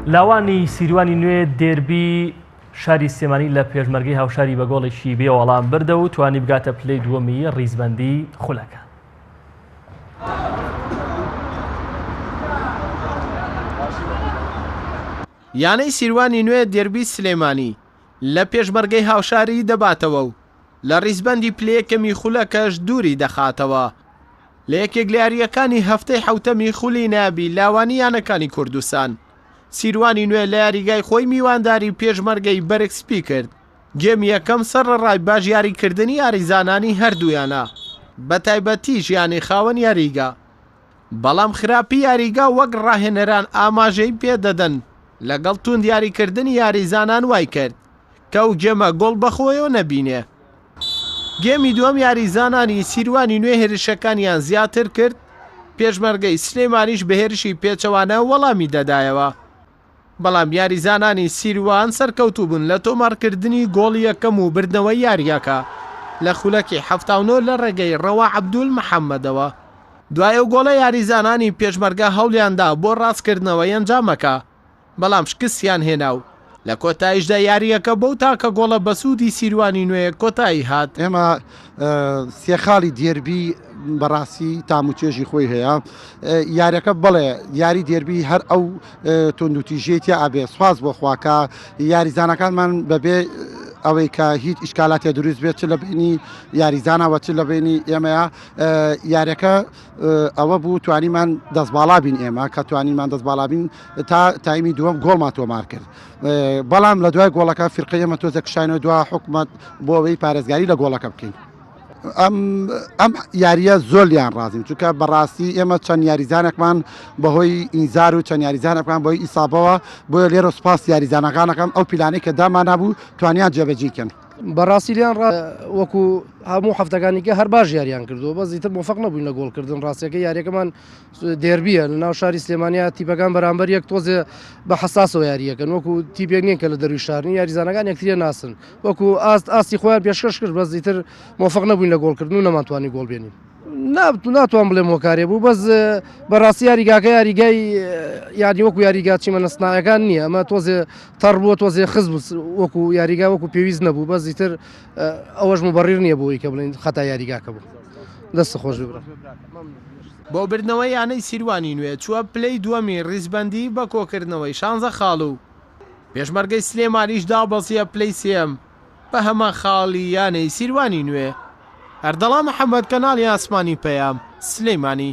لاوانی سیروانی نوێ دێربی شاری سلێمانی لە پێشمەرگەی هاوشاری بە گۆڵێکی بێ وەڵام بردە و توانی بگاتە پلەی دووەمی ڕیزبەندی خولەکە. یانەی سیروانی نوێ دێربی سلێمانی لە پێشمەرگەی هاوشاری دەباتەوە و لە ریزبەندی پلە یەکەمی خولەکەش دووری دەخاتەوە. لە یەکێک لە یارییەکانی هەفتەی حەوتەمی خولی نایابی لاوانی یانەکانی کوردستان، سیروانی نوێ لە یاریگای خۆی میوانداری پێشمەرگەی بەرگ سپی کرد، گێمی یەکەم سەرەڕای باش یاریکردنی یاریزانانی هەردوو یانە، بەتایبەتیش یانەی خاوەن یاریگا، بەڵام خراپی یاریگا وەک راهێنەران ئاماژەی پێدەدەن، لەگەڵ توند یاریکردنی یاریزانان وایکرد، تۆو جێمە گۆڵ بەخۆیەوە نەبینێ. گێمی دووەم یاریزانانی سیروانی نوێ هێرشەکانیان زیاتر کرد، پێشمەرگەی سلێمانیش بە هێرشی پێچەوانە وەڵامی دەدایەوە، بەڵام یاریزانانی سیروان سەرکەوتوو بوون لە تۆمارکردنی گۆڵی یەکەم و بردنەوەی یارییەکە لە خولەکی حەفتا و نۆ لە ڕێگەی ڕەوا عەبدول محەمەدەوە. دوای ئەو گۆڵە یاریزانانی پێشمەرگە هەوڵیاندا بۆ ڕاستکردنەوەی ئەنجامەکە، بەڵام شکستیان هێنا و لە کۆتاییشدا یارییەکە بەو تاکە گۆڵە بەسوودی سیروانی نوێ کۆتایی هات. ئێمە سێ خاڵی دێربی بەڕاستی تام و چێژی خۆی هەیە یاریەکە بڵێ یاری دێربی هەر ئەو تۆندوتیژێ تیا ئابێ سواز بۆ خواکە یاریزانەکانمان بەبێ ئەوەی کە هیچ ئیشکالاتێ دروست بێت چ لە بینی یاریزانەوە چ لە بینی ئێمەیە یاریەکە ئەوە بوو توانیمان دەست باڵا بین ئێمە کە توانیمان دەست باڵا بین تا تایمی دووەم گۆڵمان تۆمار کرد بەڵام لە دوای گۆڵەکە فرقی ئەمە تۆزە کشانەوە دو حکومت بۆ ئەوەی پارێزگاری لە گۆڵەکە بکەین ئەم ئەم یاریە زۆلیان ڕازین چونکە بەڕاستی ئێمە چەند یاریزانەکمان بەهۆی ئینزار و چەند یاریزانەکان بۆی ئیسابەوە بۆیە لێرە سپاس یاریزانەکانەکەم ئەو پیلانەی کە داماننابوو توانیان جێبەجیکەن بەڕاستی لیان وەکو هەموو هەفتەکانیکە هەر باش یاریان کردو بە زیتر مفق نەبووین لە گۆڵکردن ڕاستەکە یاریەکەمان دێربییە لەناو شاری سلێمانیا تیپەکان بەرامبەر یەک تۆزێ بە حساسەوە یارییەکەن وەکو تیپێک نییە کە لە دەروی شارنی یاریزانەکان یەکتریە ناسن وەکو ئاست ئاستی خۆیان پێشکەش کرد بەس زیتر مۆفق نەبووین لە گۆڵکردن و نەمانتوانی گۆڵ بێنین نابتو ناتوان بڵێم هۆکارێ بوو بەس بەڕاستی یاریگاکە یاریگای یادی وەکو یاریگاچی مەنەستناەکان نییە ئەمە تۆزێ تەڕ بووە تۆزێ خز بوو وەکو یاریگا وەکو پێویست نەبوو بەس زیتر ئەوەش مبڕیر نییە بۆی کە بڵین خەتا یاریگاکە بوو. دەست خۆش بێ براکەم. بۆ بردنەوەی یانەی سیروانی نوێ چووە پلەی دووەمی ریزبەندی بە کۆکردنەوەی شانزە خاڵ و پێشمەرگەی سلێمانیش دابەزییە پلەی سێیەم بە هەمان خاڵی یانەی سیروانی نوێ. ئەردەڵان محەمەد کەناڵی ئاسمانی پەیام، سلیمانی.